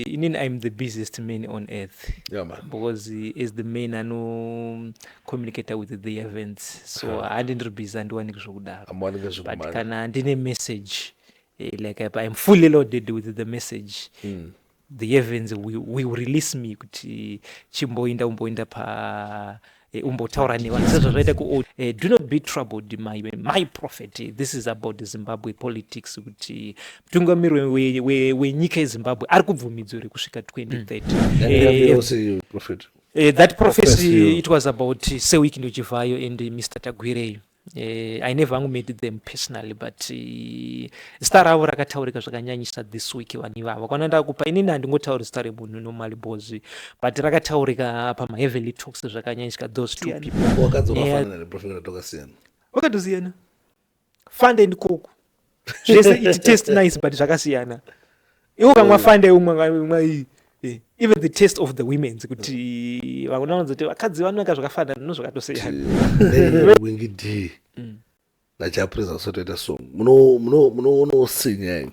inini im the busiest man on earth yeah, man. because as the man anocommunicata with the events so handi ndiri busy andiwaniki zvokudaro but kana ndine message eh, like im fully loaded with the message mm. the events will, will release me kuti chimboinda umboinda pa Eh, umbotaura nevanhu sezvo zvaita ku eh, do not be troubled my, my prophet this is about zimbabwe politics kuti mutungamiri wenyika yezimbabwe ari kubvumidzo here kusvika 2030 that prophecy it was about seweek ndochivhayo and mr tagwireyo Uh, i never hangu met them personally but uh, zita ravo rakataurika zvakanyanyisa this week vanhu ivavo kwana ndakupa inini handingotauri zita remunhu normally bos but rakataurika pamaheavenly talks zvakanyanyisika those two people wakatosiyana fund and koku zvese it taste nice but zvakasiyana iwe ukamwa fande umwa iyi eh, even the taste of the womens kuti vakona vanzoti vakadzi vanaka zvakafanana no zvakatosiyanawingi d mm. najapresa usatoita song munoonoosinya ini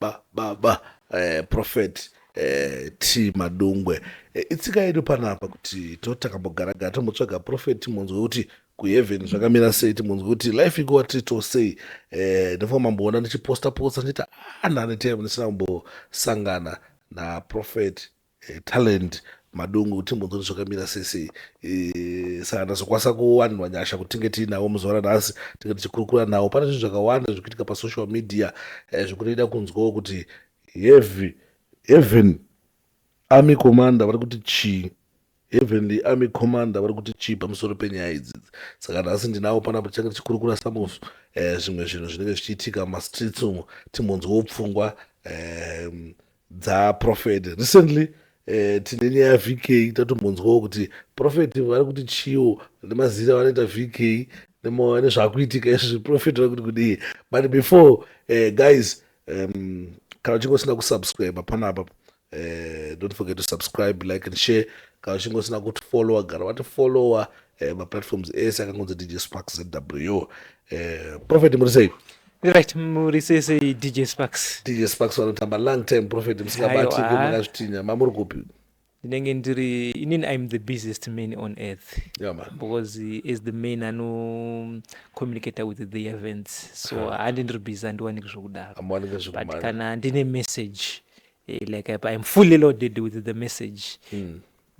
ba ba ba eh, prophet eh, t madungwe eh, itsika yedu panapa kuti to takambogara gara tombotsvaga prophet timonzwe kuti kuheaven zvakamira sei timonzwe kuti life ikuwa tito sei eh, ndofamba mamboona ndichiposta posta ndichiita ah, nane time ndisina kumbosangana naprophet eh, talent madungu timbonzoni zvakamira sese eh, saka ndazokwanisa kuwanirwa nyasha kuti tinge tiinawo muzuva ranhasi tinge tichikurukura nawo pane zvinhu zvakawanda zviri kuitika pasocial media eh, zvikutoita kunzwawo kuti heavy heaven army commander vari kuti chii heavenly army commander vari kuti chii pamusoro penyaya idzidzi saka nhasi ndinawo panapo tichange tichikurukura samusu eh, zvimwe zvinhu zvinenge zvichiitika mumastreets umo timbonzwawo pfungwa eh, dzaprofet recently eh, tine nyaya vk tatombonzwawo kuti profet vari kuti chiwo nemazira vanoita vk nezvakuitika izvi zviprofet vari kuti kudii but before eh, guys um, kana uchinge usina kusubscribe panapa eh, don't forget to subscribe like and share kana uchinge usina kutifollowa gara vatifollowa eh, maplatforms ese akangonzi dj spark zw eh, profet muri sei Right, muri sei sei DJ Sparks? DJ Sparks vanotamba long time prophet musingabati Aiwa. makazvitinya mamuri kupi? ndinenge ndiri inini im the busiest man on earth Yeah, man. because he is the man anocommunicator with the events so handi ndiri busy handiwaniki zvokudaro Hamuwaniki but zvekumhanya. kana ndine message eh, like I- i'm fully loaded with the message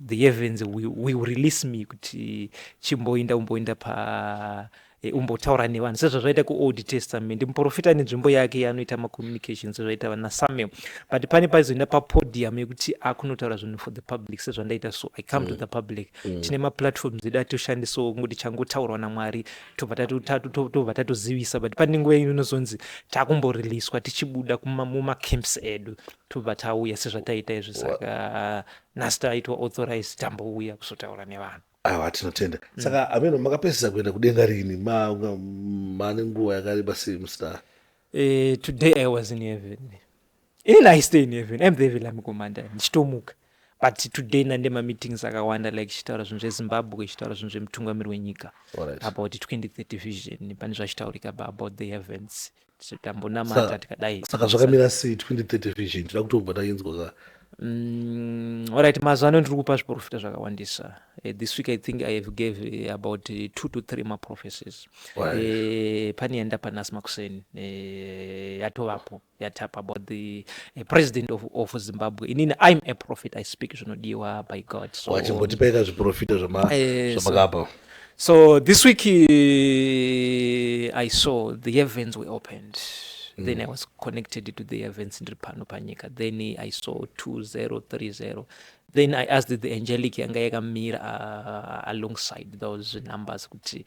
the heavens will, will release me kuti chimboinda umboinda pa eh, umbotaura nevanhu sezvazvaita kuold testament muprofita ane nzvimbo yake yaanoita macommunication sezvaita vana samuel but pane paizoenda papodium yekuti akunotaura zvinhu for the public sezvandaita so i come mm. to the public mm. tine maplatforms edu atoshandisawo kungoti changotaurwa namwari tobva tatozivisa but pane nguva ino inozonzi takumboreleaswa tichibuda mumacamps edu tobva tauya sezvataiita izvi saka Nasta aitwa authorized tambouya kuzotaura nevanhu. Awa tinotenda. Mm. Saka hameno makapedzisa kuenda kudenga rini mane nguva yakareba sei musina? Uh, eh, today I was in heaven. Ini I stay in heaven. I'm very lami komanda ndichitomuka. But today nande ma meetings akawanda like chitaura zvinhu zveZimbabwe chitaura zvinhu zvemutungamiri wenyika right. about 2030 vision pane zvachitaurika about the events tambonamata tikadai saka zvakamira sei 2030 vision tida kutobva tainzwa ka Mm, all right mazuva ano ndiri kupa zviprofita zvakawandisa uh, this week i think i have gave uh, about uh, two to three maprophecies right. uh, pane yandapa nhasi makuseni uh, yatovapo yatapa about the uh, president of, of zimbabwe inini im a prophet i speak zvinodiwa by god so, wachimbotipaika zviprofita zvamakapa uh, so, So this week uh, I saw the heavens were opened. Mm. Then I was connected to the heavens in Ripano Panika. Then I saw 2030. Then I asked the angelic yanga yakamira uh, alongside those numbers kuti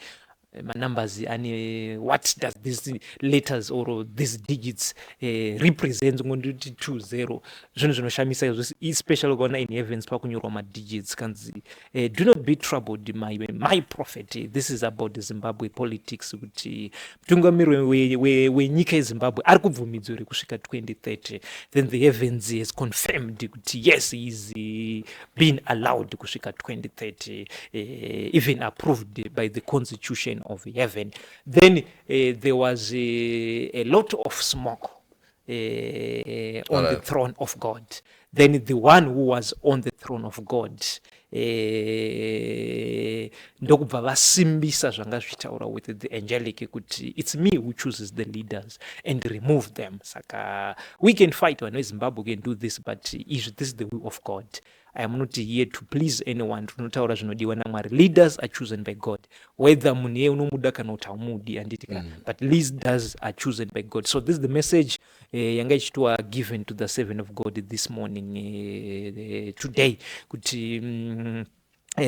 eh, manumbers ane what does these letters or these digits uh, represent ngonditi 20 zvinhu zvinoshamisa izvo especially ukaona in heavens pakunyorwa madigits kanzi Uh, do not be troubled my, my prophet this is about zimbabwe politics kuti mutungamiri wenyika we, we, we yezimbabwe ari kubvumidzo here kusvika 2030 then the heavens has confirmed kuti yes he is eh, being allowed kusvika 2030 uh, eh, even approved by the constitution of heaven then uh, there was a, a lot of smoke Uh, on right. the throne of God. Then the one who was on the throne of God uh, ndokubva vasimbisa zvanga zvichitaura with the angelic kuti it's me who chooses the leaders and remove them saka we can fight vanhu vezimbabwe can do this but izvi this is the will of god I am not here to please anyone tinotaura zvinodiwa namwari leaders are chosen by god whether munhu iye unomuda kana kuti haumudi handiti ka mm. but leaders are chosen by god so this is the message uh, yanga ichitiwa given to the seven of god this morning uh, uh, today kuti um, uh,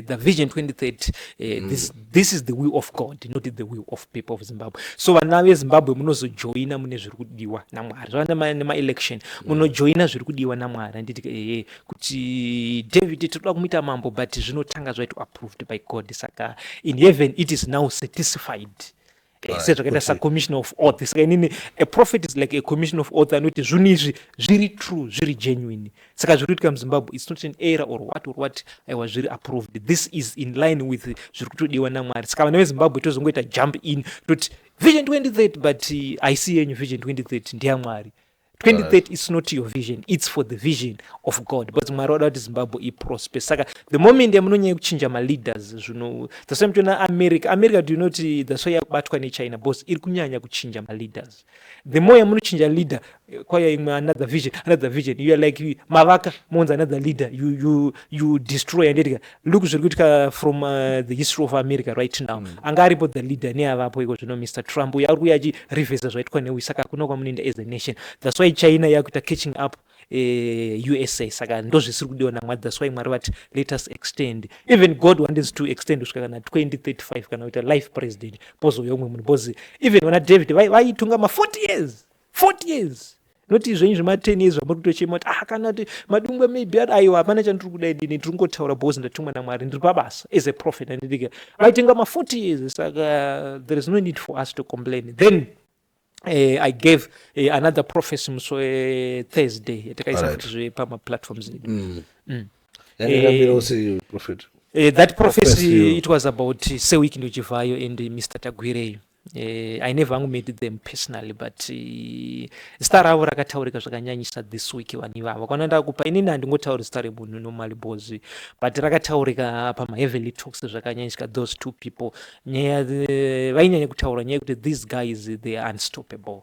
the vision 2030 uh, mm. this this is the will of god not the will of people of zimbabwe so vana vezimbabwe munozojoina mune zviri kudiwa namwari zvava nemaelection mm. munojoina zviri kudiwa namwari anditi ee kuti david tinoda kumuita mambo but zvinotanga zvaito approved by god saka in heaven it is now satisfied tese zvakaita sacommission of oath saka inini a prophet is like a commission of oath anoti zvinhu izvi zviri true zviri genuine saka zviri kuitika muzimbabwe its not an error or what or what aiwa zviri approved this is in line with zviri kutodiwa namwari saka vana vezimbabwe tozongoita jump in toti vision 2030 but haisi uh, yenyu vision 2030 ndeyamwari 2030 it's not your vision it's for the vision of god because mwari wada kuti zimbabwe iprosper saka the moment yamunonyanya yekuchinja maleaders zvino that's why muchiona america america do you know kuti that's why yakubatwa nechina because iri kunyanya kuchinja maleaders the more yamunochinja leader eh, kwaya imwe another vision another vision you are like you- mavaka monzi another leader you, you, you destroy and etika look zviri kuitika from uh, the history of america right now mm. anga aripo the leader neavapo iko zvino mr trump uyo ari kuuya achirevhesa zvaitwa newi saka hakuna kwamunoenda as a nation thats why china yakuita catching up uh, eh, usa saka ndozvisiri kudiwa namwari thats why mwari vati let us extend even god wanted to extend kusvika kana 2035 kana kuita life president pozouya umwe munhu bcause even vana david vaitunga ma 40 years 40 years not izvenyu zvema 10 years zvamuri kutochema kuti ah kana kuti madungwe maybe ari aiwa hapana chandiri kuda idini ndiri kungotaura because ndatumwa namwari ndiri pabasa as a prophet andidike vaitenga ma 40 years saka there is no need for us to complain then Uh, I gave uh, another prophecy muso uh, Thursday yatakaisa right. kuti pama platforms edu mm. mm. Eh, prophet. Uh, that prophecy, prophecy it was about uh, Sewiki Ndochivayo and uh, Mr. Tagwireyo Uh, i never hangu met them personally but uh, zita ravo rakataurika zvakanyanyisa this week vanhu ivavo kana ndakupa inini handingotauri zita remunhu normally bos but rakataurika pamaheavenly talks zvakanyanyisika those two people nyaya eh, vainyanya kutaura nyaya yekuti these guys they are unstoppable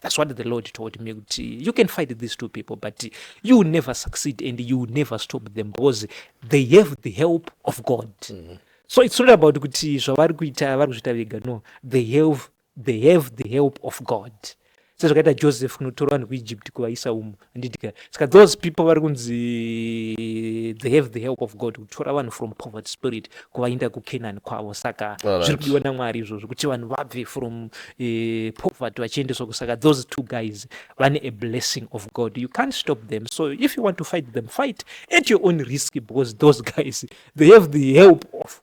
That's what the Lord told me kuti you can fight these two people but you will never succeed and you will never stop them because they have the help of God. Mm -hmm. So it's not about kuti zvavari kuita vari kuzviita vega no they have, they have the help of God sezvakaita Joseph kunotora vanhu kuEgypt kuvaisa umu handidike saka those people vari kunzi they have the help of god kutora vanhu from poverty spirit kuvainda kucanani kwavo saka zviri kudiwa namwari izvozvo kuti vanhu vabve from eh, poverty vachiendeswa kusaka those two guys vane a blessing of god you can't stop them so if you want to fight them fight at your own risk because those guys they have the help of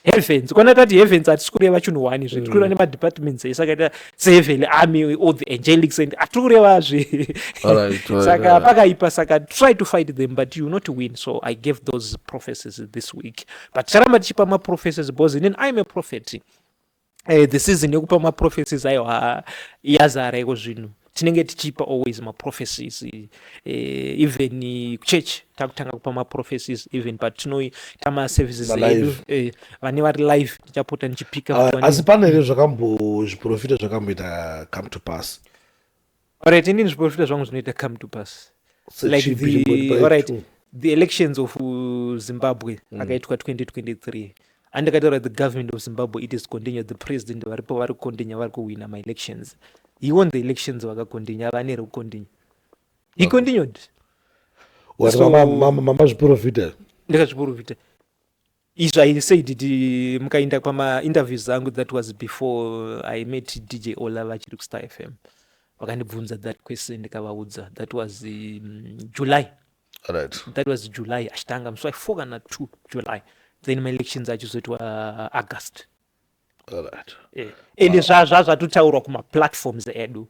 heavens kwana tati heavens hatisi kureva chinhu one zve tiri kureva mm. nemadepartments ese akaita seheavenly army all the angelics and hatiri kureva zve saka pakaipa saka try to fight them but you not win so i gave those prophecies this week but ticharamba tichipa maprophecies because inin im a prophet eh, the season yekupa maprophecies ayo yazara iko zvinhu tinenge tichipa always maprophecies eh, even church takutanga kupa maprophecies even but tinoita maservices edu eh, vane vari live tichapota ndichipika ah, asi pane here zvakambozviprofita zvakamboita come to pass Alright, ini ndizviporofita zvangu zvinoita come to pass. So like it should be the, reported by alright, two. the elections of uh, Zimbabwe mm. akaitwa 2023 andikataura the government of Zimbabwe it is continued the president varipo vari kukondinya vari kuwina my elections he won the elections vakakondinya ava anere kukondinya he continued Wati So- mama- mama- mama zviporofita ndikazviporofita Izvo I said it mukainda kwama interviews angu that was before I met DJ Ola vachiri kuStar FM. Vakandibvunza that question ndikavaudza that was um, July. Right. That was July achitanga musi waifo kana two July then maelections acho zoitwa uh, August. Right. Yeah. Ende zva zva zvatotaurwa kuma platforms edu.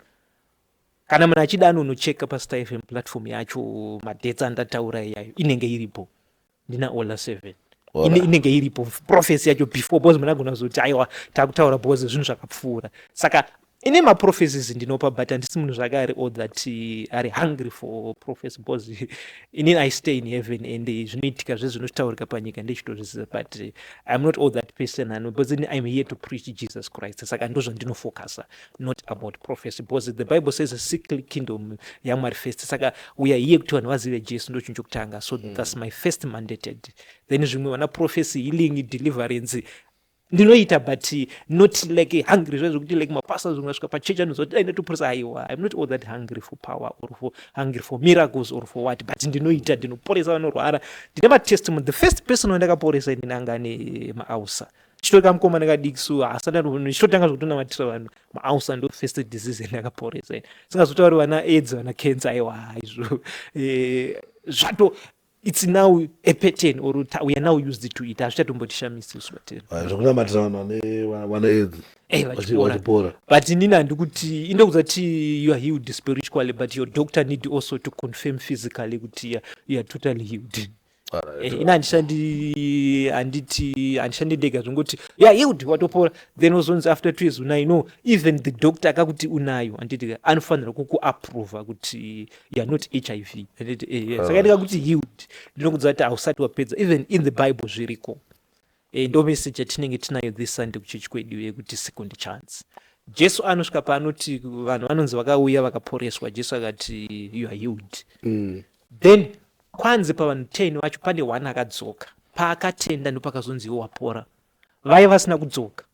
Kana munhu achida anonocheka paStar FM platform yacho madates andataura iyayo inenge iripo. ndina ola seven inenge iripo profesi yacho before bcause munagona kuzoti aiwa takutaura bcause zvinhu zvakapfuura saka ine maprofesis ndinopa but handisi munhu zvake ari all that eh, ari hungry for profesi bcause eh, inini i stay in heaven and eh, zvinoitika zve zvinotaurika panyika ndechitozviziva but iam not all that person ano bcause ini iam here to preach jesus christ saka ndo zvandinofocusa not about prophecy because the bible says seek kingdom yamwari first saka uya iye kuti vanhu vazive jesu ndo chinhu chokutanga so mm. thats my first mandated then zvimwe vana prophecy healing deliverance ndinoita but not like hungry zvaizvo kuti like mapasa zvimwe asvika pachechi anoziva kuti ainatoporesa aiwa im not all that hungry for power or for hungry for miracles or for what but ndinoita ndinoporesa vanorwara ndine matestimony the first person wandakaporesa ini nanga ane maausa chitove kamukomana kadiki so haasati atoona chitotanga zvekutonamatira vanhu maausa ndo first disease ende akaporesa ini singazotauri vana aids vana cancer aiwa haizvo eh, zvato it's now a pattern or we are now used to it hazvichatombotishamisi isu vatene ah, zvekunamatira vanhu vane vana aids eh, vachipora but inini handi kuti inde kuzati you are healed spiritually but your doctor need also to confirm physically kuti you are totally healed Eh, ini handishandi handiti handishandi ndega zvongoti ya yield watopora then wozonzi after two years unayo no even the doctor akakuti unayo handiti anofanira kukuaprova kuti youare not h i v handiti eh, eh. saka ndikakuti yield ndinokuziva kuti hausati wapedza even in the bible zviriko Iyi ndo message yatinenge tinayo this Sunday kuchechi kwedu yekuti second chance. Jesu anosvika paanoti vanhu vanonzi vakauya vakaporeswa Jesu akati you are healed. Mm. Then kwanzi pavanhu 10 vacho pane one akadzoka paakatenda ndopakazonzi iwe wapora. Vaye vasina kudzoka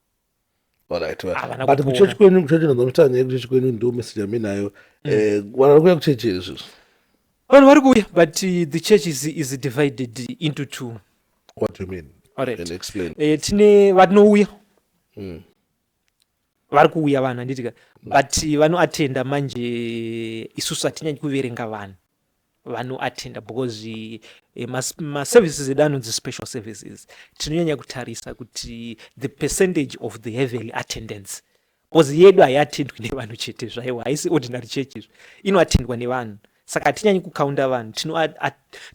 but kuchechi kwenyu kuchechi ndonotaura nyaya yekuchechi kwenyu ndo message yami nayo mm. eh, vanhu vari kuya kuchechi here izvozvo vanhu vari kuuya but uh, the church is, is divided into two what do you mean Alright. explain eh, tine vatinouya mm. vari kuuya vanhu anditika but uh, vanoatenda manje isusu hatinyanyi kuverenga vanhu vanoattenda because eh, maservices edu anonzi special services tinonyanya kutarisa kuti the percentage of the heavily attendance because yedu haiatendwi nevanhu chete zvaiwo haisi ordinary church izvi inoatendwa nevanhu saka hatinyanyi kukaunda vanhu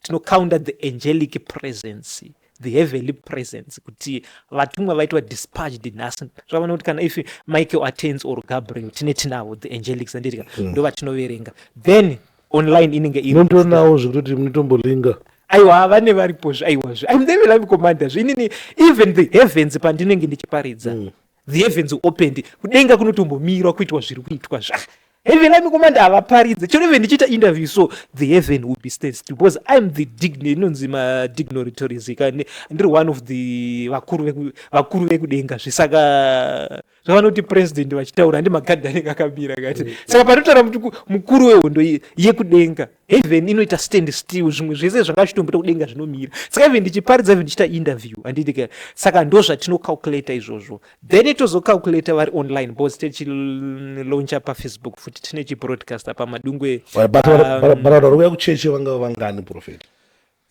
tinokaunda the angelic presence the heavenly presence kuti vatumwa vaitwa dispatched nhasi zvavana kuti kana if michael attends or gabriel tine tinavo the angelics andirika hmm. ndo vatinoverenga then online inenge inotonawo zvekutoti munotombolinga aiwa vane varipozve aiwazve im the live commander zve inini even the heavens pandinenge ndichiparidza mm. the heavens opened kudenga kunotombomirwa kuitwa zviri kuitwa zva heaven ami komanda havaparidze chero even ndichiita interview so the heaven will be stance because im the dign inonzi madignitories kane ndiri one of the vakuru vekudenga zvisaka zvavanoti president vachitaura ndi magadhi anenge akamira kati mm. saka panotaura kuti mukuru wehondo yekudenga heaven inoita stand still zvimwe zvese zvanga zvichitomboita kudenga zvinomira saka even ndichiparidza even ndichiita interview andidike saka ndo zvatinocalculator izvozvo then tozocalculator vari online because techiloncha pafacebook futi tine chibroadcaster pamadungwe varikuya um, kuchechi vanga vangani profet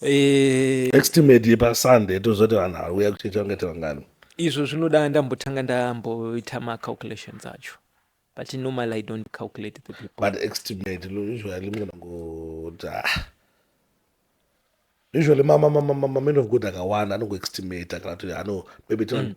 eh, estimate yepasunday tozoti vanhu varikuya kuchechi vangaita vangani izvo zvinoda ndambotanga ndamboita macalculations acho But normally I don't calculate the people. But estimate usually munhu anoti ah usually mama mama mama man of God akawanda anongoestimate kana kuti ano maybe mm.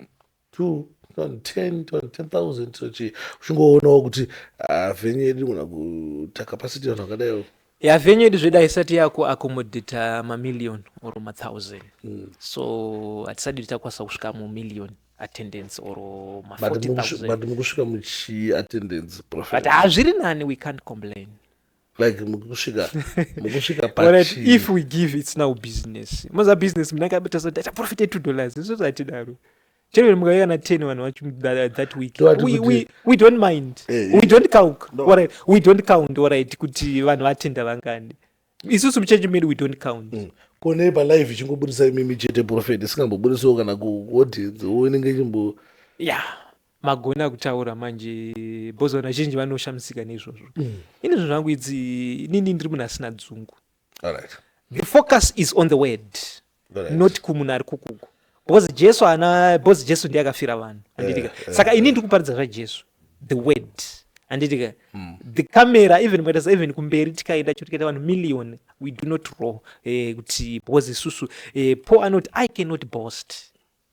two ton ten ton ten thousand sochi uchingoonawo kuti ah, venyu yedu kana kuita capacity vanhu vakadaiwo ya venyu yedu zveda isati yako accommodata mamillion or mathousand mm. so hatisadi titakwanisa kusvika mumillion mm. attendance or ma But 40,000. mukusvi- but mukusvika muchi attendance prophet But hazviri nani, we can't complain. like mukusvika mukusvika Alright, pachi if we give it's now business. Maza business mna kabita so data profit 2 dollars. This is what daro. Chero mukauya na 10 vanhu vacho that, that week. Ndowati We, kuti- we, we don't mind. Eh, eh. We don't count. No. Alright, we don't count alright kuti vanhu vatenda vangani. isusu muchechi medu we don't count mm. kone palive ichingobudisa imimi chete profet isingambobudisawo kana kuaudience wo inenge chimbo ya magona kutaura manje bhozi vanhu vazhinji vanoshamisika neizvozvo mm. ini zvinhu zvangu idzi inini ndiri munhu asina dzungu the focus is on the word not kumunhu ari kukuku because jesu haana because jesu ndiye akafira vanhu anditika eh, eh, saka ini eh. ndiri kuparidza zvajesu the word anditika hmm. the camera even mukatasa even kumberi tikaenda cho tikaita vanhu million we do not row kuti because isusu paul anoti i cannot boast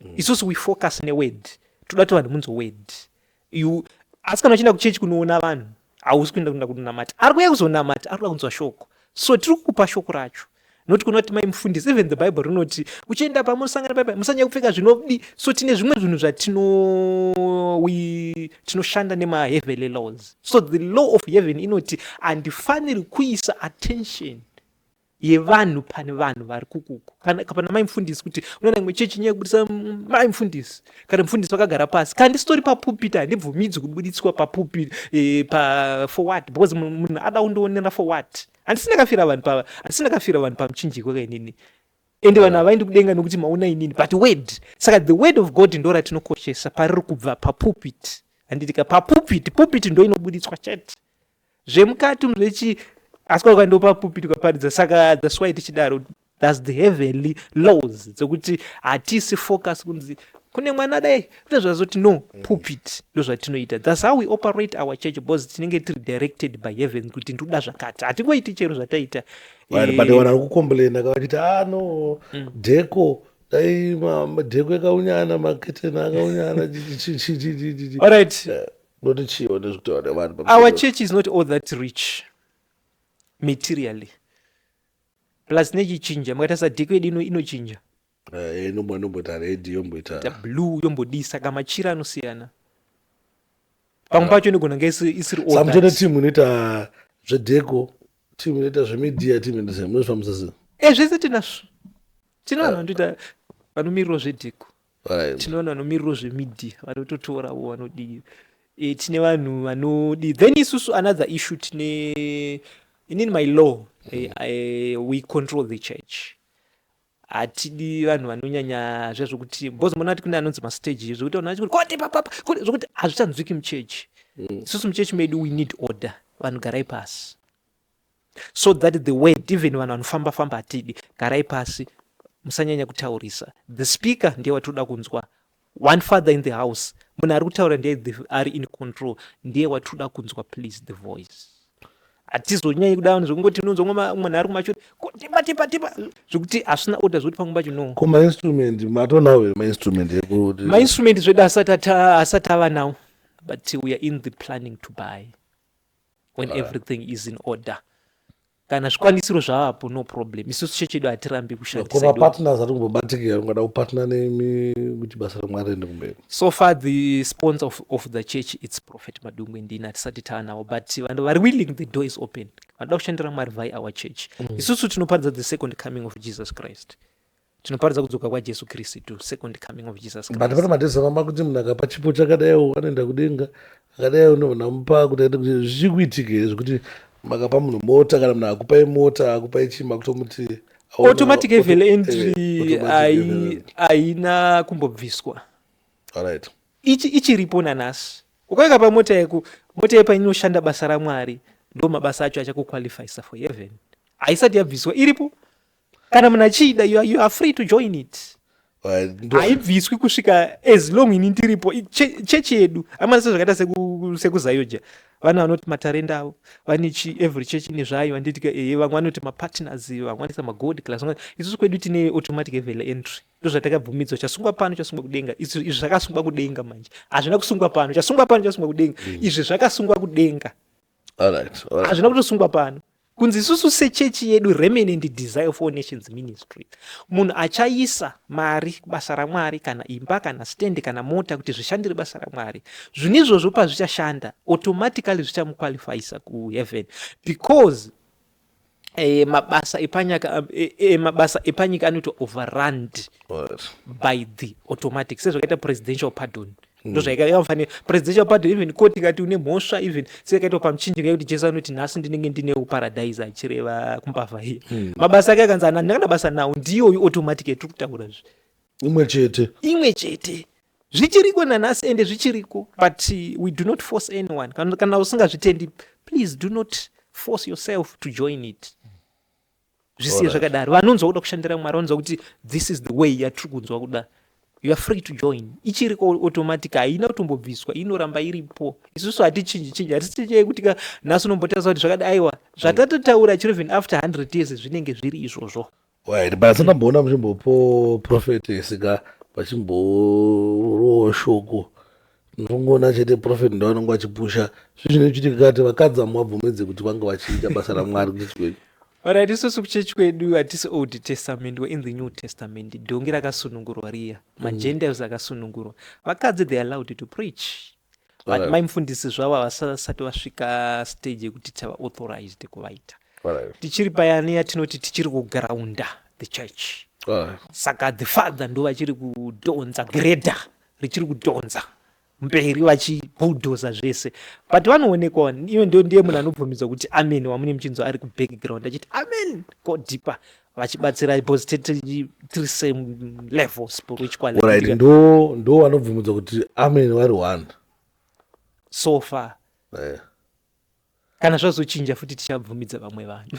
mm. isusu we focus neword toda kuti vanhu munzwe word you asi kana uchienda kuchechi kunoona vanhu hausi kuenda kuenda kunonamata ari kuya kuzonamata ari kuda kunzwa shoko so tiri kukupa shoko racho noti kuona kuti mai mufundisi even the bible rinoti uchienda pamwe usangana pai musanyaya kupfeka zvinodi so tine zvimwe zvinhu zvatino tinoshanda nemaheavenly laws so the law of heaven inoti handifaniri kuisa attention yevanhu pane vanhu vari kukuku kana kapana mai mfundisi kuti unoona imwe chechi nyaya yekubudisa mai mfundisi kana mfundisi vakagara pasi kana ndisitori papupiti handibvumidzi kubuditswa papupiti e, pa for what because munhu ada kundiwonera for what handisi ndakafira vanhu pa handisi ndakafira vanhu pamuchinjiko kainini ende vanhu havaendi kudenga nokuti maona inini but word saka the word of god ndo ratinokoshesa pariri kubva papupiti handidika papupiti pupiti ndo inobuditswa chete zvemukati umu zvechi asi kwakaenda papupiti kwaparidza saka that's why tichidaro thus the heavenly laws dzekuti hatisi focus kunzi kune mwana dai kune zvazoti no mm. pupit ndozvatinoita thus how we operate our church because tinenge tiri directed by heaven kuti ndoda zvakati hatingoiti chero zvataita eh, but vana vekucomplaina kavachiti ah no mm. deko dai dheko yakaunyana maketeni akaunyana alright eh. Unoti chii one zvekutaura nevanhu pamusoro? Our church is not all that rich materially. Plus nechichinja makaita sadheko yedu ino inochinja. Eh, inombo inomboita red yomboita. Ta blue yombodii saka machira anosiyana. Pamwe pacho inogona kunge isi- isiri all Samutene that. team inoita zvedheko, team inoita zvemedia, team inoita zve- munozvifambisa sei? Eh zvese tinazvo. Tine vanhu vanotoita vanomirirwa zvedheko. tinoona vanomirirwo zvemedia vanototora vo vanodii e, tine vanhu vanodii then isusu another issue tine inini my law e, e, we control the church hatidi vanhu vanonyanya zviya zvokuti bcause mona ati kune anonzi mastage zvokuti vanhu vachikuti kote papapa kote zvokuti hazvichanzwiki muchechi mm. isusu muchechi medu we need order vanhu garai pasi so that the word even vanhu vanofamba famba hatidi garai pasi musanyanya kutaurisa the speaker ndiye watinoda kunzwa one father in the house munhu ari kutaura ndiye ari in control ndiye watinoda kunzwa please the voice hatizonyanyi kuda vanhu zvekungoti unonzwa munhu ari kumachoti tipa tipa tipa zvekuti hazvina oda zvekuti pamwe pacho no ko mainstrument matonawo here mainstrument ekuti mainstrument zvedu asati ava nawo but we are in the planning to buy when Alright. everything is in order kana zvikwanisiro zvavapo no problem isusu chechi yedu hatirambi kushandisa koma idoka. partners ari kumbobatikira ungada kupatna nemi kuti basa ramwari riende kumberi so far the sponsor of, of the church its prophet madungwe ndini hatisati taanawo but vanhu vari willing the door is open vanoda kushandira mwari vhai our church isusu tinoparidza the second coming of jesus christ tinoparidza kudzoka kwajesu kristu second coming of jesus Christ. but pane matezamama kuti munhu akapa chipo chakadaiwo anoenda kudenga akadaiwo ndonamupa kuti aende kuti zvichiri kuitika here zvekuti makapa munhu mota kana munhu akupai mota akupai chii makutomuti aona- automatic auto- evel eh, entry automatic hai- evel- haina kumbobviswa alright ichi ichiripo nanhasi ukaika pamota yako mota yepa inoshanda basa ramwari ndo mabasa acho achakuqualifyisa for heaven haisati yabviswa iripo kana munhu achida you, you are free to join it haibviswi kusvika as long ini ndiripo chechi yedu amana sezvakaita sekuzayoja vana vanoti matarenda avo vane chi every chechi ine zvayo vanditika ee eh, vamwe vanoti mapartners vamwe vanoisa magod class isusu kwedu tine automatic evel entry ndo zvatakabvumidzwa chasungwa pano chasungwa kudenga izvi zvakasungwa kudenga manje hazvina kusungwa pano chasungwa pano chasungwa kudenga mm. izvi zvakasungwa kudenga hazvina kutosungwa pano kunzi isusu sechechi yedu remanent desire of all nations ministry munhu achaisa mari kubasa ramwari kana imba kana stand kana mota kuti zvishandire basa ramwari zvinhu izvozvo pazvichashanda automatically zvichamuqualifyisa kuheaven because eh, mabasa epanyaka eh, eh, mabasa epanyika anoitwa overrund by the automatic sezvakaita presidential pardon mm. ndozvaikaifanira presidential pardon even court ikati une mhosva even seyakaitwa pamuchinjika yekuti jesu anoti nhasi ndinenge ndine uparadise achireva kumbavha hiya mm. mabasa ake akanzi andikana basa nawo ndiyoyu automatic yatiri kutaura zve imwe chete imwe chete zvichiriko nanhasi ende zvichiriko but we do not force anyone kana, kana usingazvitendi please do not force yourself to join it zvisiye zvakadaro vanonzwa kuda kushandira mwari vanonzwa kuti this is the way yatiri kunzwa kuda you are free to join ichiriko automatic haina kutombobviswa inoramba iripo isusu hatichinji chinji hatichinji yekuti ka nhasi unombotaisa kuti zvakadi aiwa zvatatotaura chirevhen after 100 years zvinenge zviri izvozvo Right, but asingamboona muchimbopo prophetess ka vachimborowo shoko ndongoona chete prophet ndo anonge achipusha zvi zvine chiitika kati vakadzi vamwe vabvumedze kuti vange vachiita basa ramwari kuchechi kwedu orit isusu kuchechi kwedu hatisi old testament we in the new testament dhongi rakasunungurwa riya mm. magentiles akasunungurwa vakadzi they allowed to preach But mai mufundisi zvavo havasati vasvika stage yekuti tava authorized kuvaita tichiri payani yatinoti tichiri kugraunda the church saka the father ndo vachiri kudhonza greda richiri kudhonza mberi vachibhudhoza zvese but vanoonekwa iwe ndo ndiye munhu anobvumidzwa kuti amen wamune muchinzwa ari kubackground achiti amen go deeper vachibatsira because tiri same level spiritually right ndo ndo wanobvumudza kuti amen vari one so far yeah. kana zvazochinja futi tichabvumidza vamwe vanhu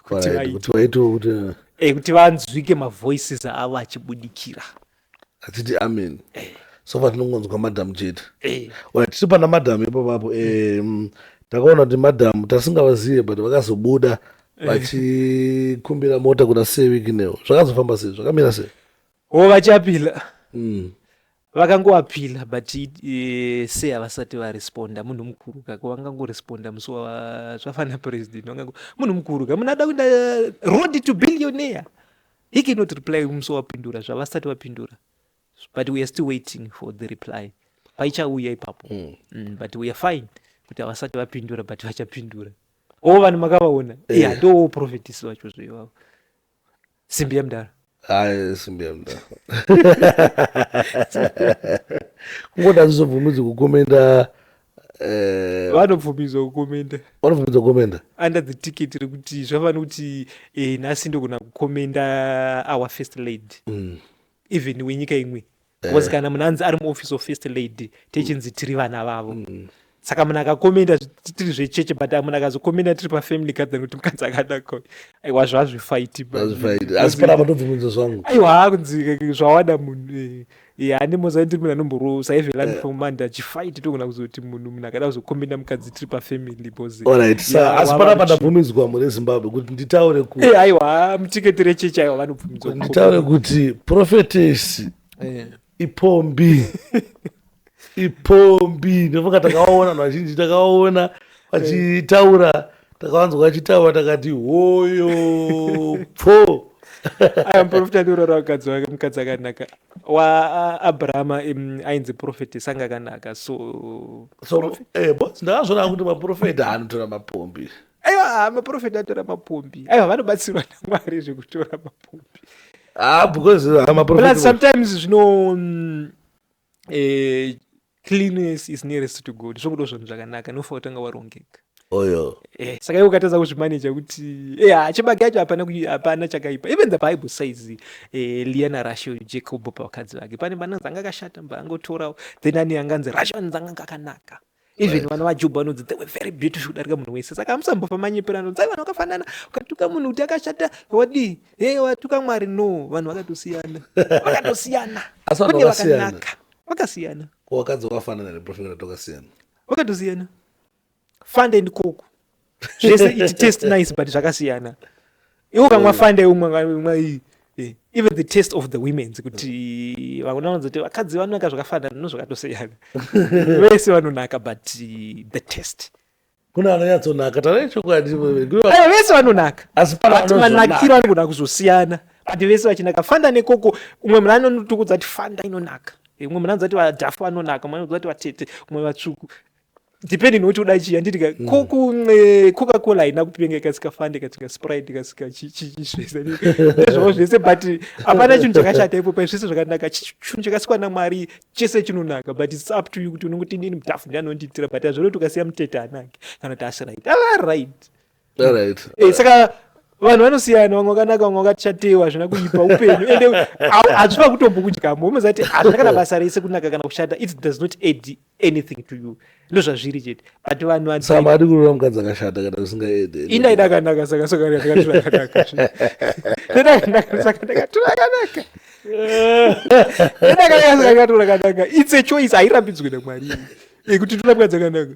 kuti vaitwe kuti eh, kuti vanzwike mavoices avo achibudikira hatiti amen eh. so far tinongonzwa madam chete eh. oya tiri pana madam ipapapo eh, mm, takaona kuti madam tasingavazive but vakazobuda eh. vachikumbira mota kuna sewiki neo zvakazofamba sei zvakamira sei o vachapila mm. vakangoapila but uh, se havasati varesponda munhu mukuru kako vangangoresponda musi wavafana president munhu mukuru ka munhu ada kuda road to billionaire He cannot reply musi wapindura zvavasati vapindura but we are still waiting for the reply paichauya ipapo mm. Mm, but we are fine kuti havasati vapindura but vachapindura o vanhu makavaona eh. yeah, ndoo profetisi vacho zvo ivavo simbi yamdara simbi yamdara kungoda zizobvumidzi kukomenda Eh, vanobvumidzwa kukomenda vanobvumidzwa kukomenda under the ticket rekuti zvavani kuti eh, nhasi ndogona kukomenda our first lady mm. even wenyika imwe bcause eh. kana munhu anzi ari muoffice of first lady techinzi tiri vana vavo mm. saka munhu akakomenda tiri zvecheche but munhu akazokomenda tiri pafamily gathering kuti mukadzi akadako aiwa zvazvifaiti asi panapa ndobvumidzwa zvangu aiwa kunzi zvawada munhu eh, ya yeah, ndimoza ndiri munhu anomborova saive learn yeah. from manda achifight togona kuzoti munhu munhu akada kuzokombenda mukadzi tiri pafamily boseasi pana pandabvumidzwa mune zimbabwe kuti nditaure kuti eh, aiwa mutiketi rechechi aiwa vanobvumidzwa nditaure kuti profetesi eh. ipombi ipombi ndofunga takawaona vanhu vazhinji takawaona vachitaura yeah. takawanzwa achitaura takati hoyo pfo aya muprofita ndiurora mukadzi wake mukadzi akanaka waabrahama ainzi profeti sanga akanaka so so eh, ndakazvona kuti maprofeta anotora mapombi aiwa maprofeti atora mapombi aiwa vanobatsirwa namwari zvekutora mapombi ah, because ah, sometimes zvino mm, eh, cleanliness is nearest to god zvokudo zvinhu zvakanaka nofa kutanga warongeka oyo eh, saka iwe ukatadza kuzvimaneja kuti eh, ah, chibage yacho hapana kui- hapana chakaipa even the bible says eh, lia narashel jacob pavakadzi vake pane bananzi anga akashata mba angotorawo then ane anganzi rashel anzi anga akanaka even right. vana vajoba vanonzi they were very beautiful kudarika munhu wese saka hamusambofa manyepera anonzi ai vanhu vakafanana ukatuka munhu kuti akashata wadii he watuka mwari no vanhu vakatosiyana vakatosiyana asi vanhu vakasiyana vakasiyana wakadzi wakafanana here profekata tokasiyana vakatosiyana fanda and koku zvese it taste nice but zvakasiyana iwo kamwa fande umwe eh, even the taste of the womens kuti vakuna vanzoti vakadzi vanonaka zvakafanana no zvakatosiyana vese vanonaka but eh, the taste kuna anonyatsonaka tana chokwadi vese vanonaka asi manakiro anogona kuzosiyana but vese vachinaka fanda nekoko umwe muna anotukudza kuti fanda inonaka umwe muna anzati vadhafu vanonaka umwe anozati vatete umwe vatsvuku depending nokuti uda chii handiti ka ko mm. kunxe coca cola haina kupenga ikasika fande ikasika sprite ikasika chiizvese nezvavo zvese but hapana chinhu chakashata ipo pai zvese zvakanaka chinhu chakasikwa namwari chese chinonaka but its up to you kuti unongoti inini mutafu ndianondiitira but azvino kuti ukasiya mutete anake kana kuti asiright alright Eh, saka vanhu vanosiyana vamwe vakanaka vamwe vakachatewa hazvina kuipa upenyu ende hazvina kutombokudyamo umoziva kuti hazvina kana basa rese kunaka kana kushata it does not add anything to you ndo zvazviri chete but vanhu vasamadi kurora mukadzi akashata kana usingaede inda idakanaka saka sokaakakanaka ndakaturakanaka ndakaturakanaka it's a choice hairambidzwe namwari yekuti tora mukadzi akanaka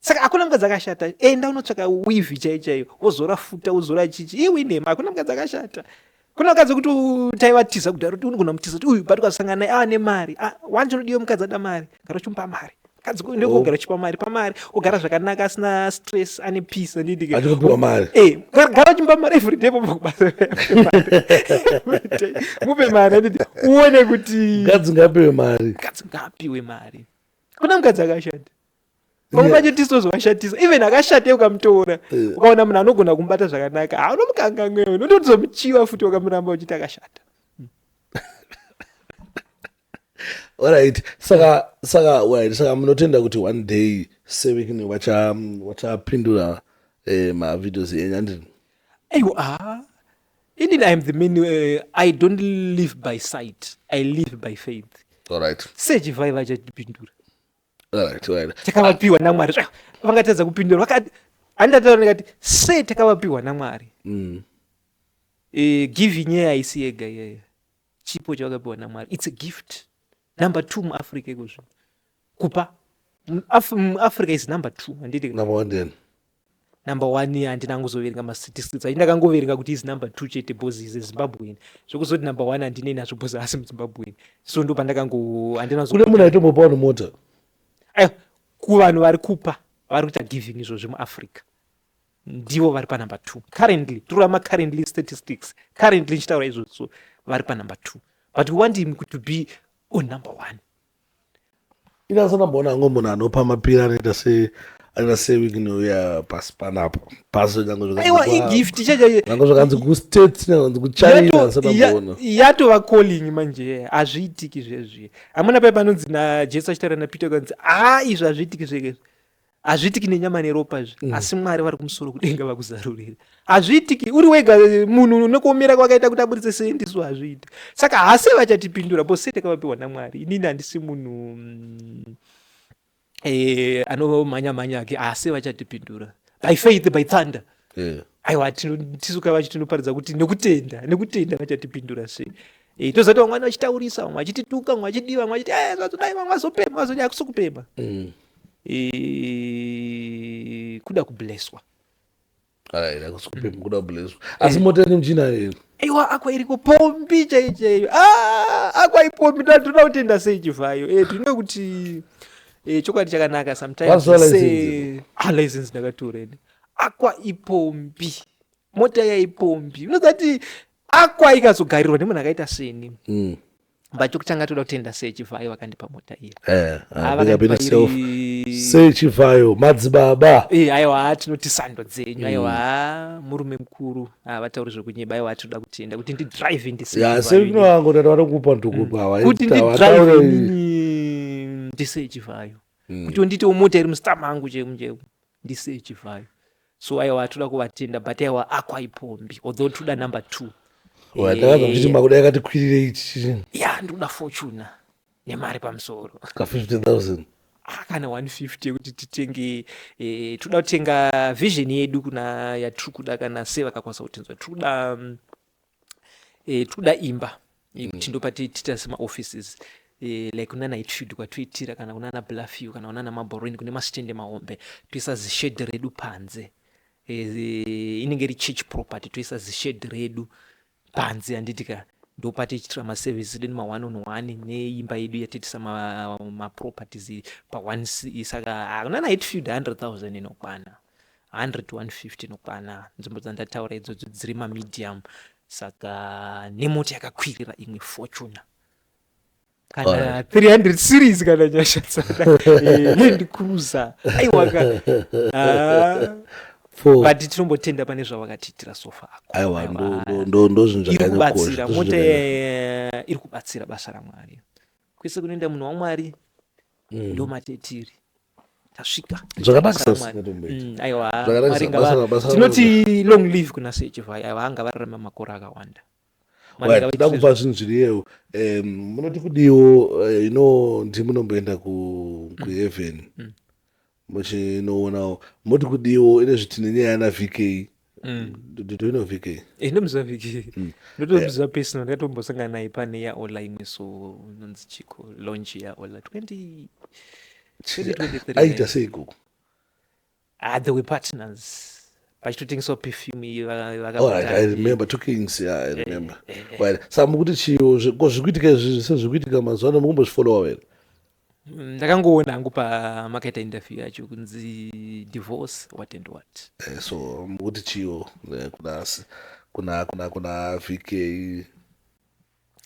saka hakuna mukadzi akashata enda unotsvaka wivi chai chaiyo wozora futa wozora chichi iwe inhema hakuna mukadzi akashata kuna mukadzi wekuti taivatiza kudaro kuti unogona mutiza kuti uyu but ukasangana naye ava nemari ah, wanje unodiwe mukadzi ada mari gara uchimupa mari mukadzi ndokugara oh. uchipa mari pamari ogara zvakanaka asina stress ane peace andidikaaopiwa mari eh, gara uchimupa mari everyday pabva kubasa mupe mari andidi uone kuti mukadzi ngaapiwe mari mukadzi ngaapiwe mari kuna mukadzi akashanda pamumanje tisozovashatisa even akashate ukamutora ukaona munhu anogona kumubata zvakanaka haunomukanganwewe unotozomuchiva futi wakamuramba uchiti akashata orit saka saka orit saka munotenda kuti one day sewikini wachapindura eh, mavideos enyu andini aiwa ah. inini iam the man uh, i don't live by sight i live by faith orit sechivaiva chatipindura takavapiwa namwari vangatadza kupindura vakati handataura ndikati sei takavapiwa namwari mm. e, giving nyaya haisi yega iyeyo chipo chavakapiwa namwari its a gift number two muafrica ikozvino kupa muafrica is number two handiti number one then number one handina kuzoverenga mastatistics achi ndakangoverenga kuti izi number two chete bcause ize zimbabwean zvekuzoti number one handinei nazvo bcause asi muzimbabwean so ndo pandakango handina kune munhu aitombopawo nemota eh, kuvanhu vari kupa vari kuita giving izvo zvemuafrica ndivo vari panumber two currently torama currently statistics currently ndichitaura izvozvo vari panumber two but we want him to be on number one inasonamboona hangu munhu anopa mapira anoita se anoita sewiki nouya pasi panapa pasi aiwa igift chanyange zvakanzi kustates nyanganzi kuchina sanamboona yatova calling manje hazviitiki zvezvi hamuna pai panonzi najesu achitaura napeter kanzi haa izvi hazviitiki zvekezi hazviitiki nenyama neropa izvi mm. asi mwari vari kumusoro kudenga vakuzarurira hazviitiki uri wega eh, munhu nekuomera kwakaita kuti aburitse sei ndisu hazviiti saka hase vachatipindura bose takavapiwa namwari inini handisi munhu mm, eh, anomhanya mhanya ake hase vachatipindura by faith by thunder yeah. aiwa tisu kavachi tinoparidza kuti nekutenda nekutenda vachatipindura sei Eh, tozoti vamwe vachitaurisa vamwe vachitituka vamwe vachidii vamwe vachiti eh, zvazodai vamwe vazopema vazodai hakusi kupema mm. eh, kuda kubleswa asi mota yenyu mchina yenu aiwa akwa iriko pombi chai chaiyo ah, akwa ipombi tinoda kutenda sei chivhayo eh, tinoda kuti eh, chokwadi chakanaka sometimeslicense ah, ndakatoreni akwa ipombi mota yaipombi unozati Akwa ikazogarirwa nemunhu akaita seni. Mm. Bacho kuchanga toda kutenda sei Chivhayo vakandipa mota iya. Eh, ah, vakandipa self. Sei Chivhayo madzibaba. Eh, aiwa tinoti sando dzenyu. Mm. Aiwa murume mukuru. Ah, vatauri zvekunyeba aiwa tinoda kutenda kuti ndi drive ndi sei. Ya, sei kuno wangu ndati vanokupa ndukupa. Mm. Kuti ndi drive ndi sei Chivhayo. Mm. Kuti nditewo mota iri mustamp angu chemu chemu. Ndi sei Chivhayo. so aiwa hatuna kuvatenda but aiwa akwa ipombi although ndikuda number two ndakaza kuti makuda yakati kwirirei chii ya ndikuda fortuna nemari pamusoro ka 50000 ah, kana 150 yekuti titenge eh, tikuda kutenga vision yedu kuna yatiri kuda kana sevakakwanisa kutinzwa tiri kuda mm, eh, tikuda imba eh, kuti ndopa ti- tiita semaoffices eh, like kunana hitfield kwatoitira kana kunana bluffew kana kunana maborweni kune masitende mahombe toisa zishedhi redu panze Eh, zi- inenge iri church property toisa zishedhi redu panze handiti ka ndopa tichitira maservice edu nema one on one neimba yedu yatiitisa ma- maproperties pa one si- saka ah, kunana hitfield 100000 inokwana 100 to 150 inokwana nzvimbo dzandataura idzodzo dziri mamedium saka nemota yakakwirira imwe fortuna kana 300 series kana nyasha tsada eh, land cruiser aiwaka ah. but tinombotenda pane zvavakatiitira sofa akoairi kubatsira mota iri kubatsira basa ramwari kwese kunoenda munhu wamwari mm. ndo matetiri tasvika zvakanakisaaiwatinoti mm, long live kuna sechivhai aiwa anga vararama makore akawanda tida kupa zvinhu zviriyewo munoti kudiwo eh, ino ndimunomboenda kuheaven mm. mm. muchinoonawo moti kudiwo ine zviti nenyaya yana vk mm. ndotoino vk eh, ndomuziva vk mm. ndotomuziva eh. personal ndikatombosangana naye pane yaola imwe so nonzi chiko launch yaola 20 aita sei ikoko ah, they were partners vachitotengeswa perfume iyi vakaremember two kings ya i remember eh, eh, eh. sa mukuti chiyo ko zvikuitika izvi sezvikuitika mazuva ano mukumbozvifollowa here Mm, ndakangoona hangu pamakaita interview yacho kunzi divorce what and what eh, so mukuti chiyo eh, kuna kuna kuna kuna vk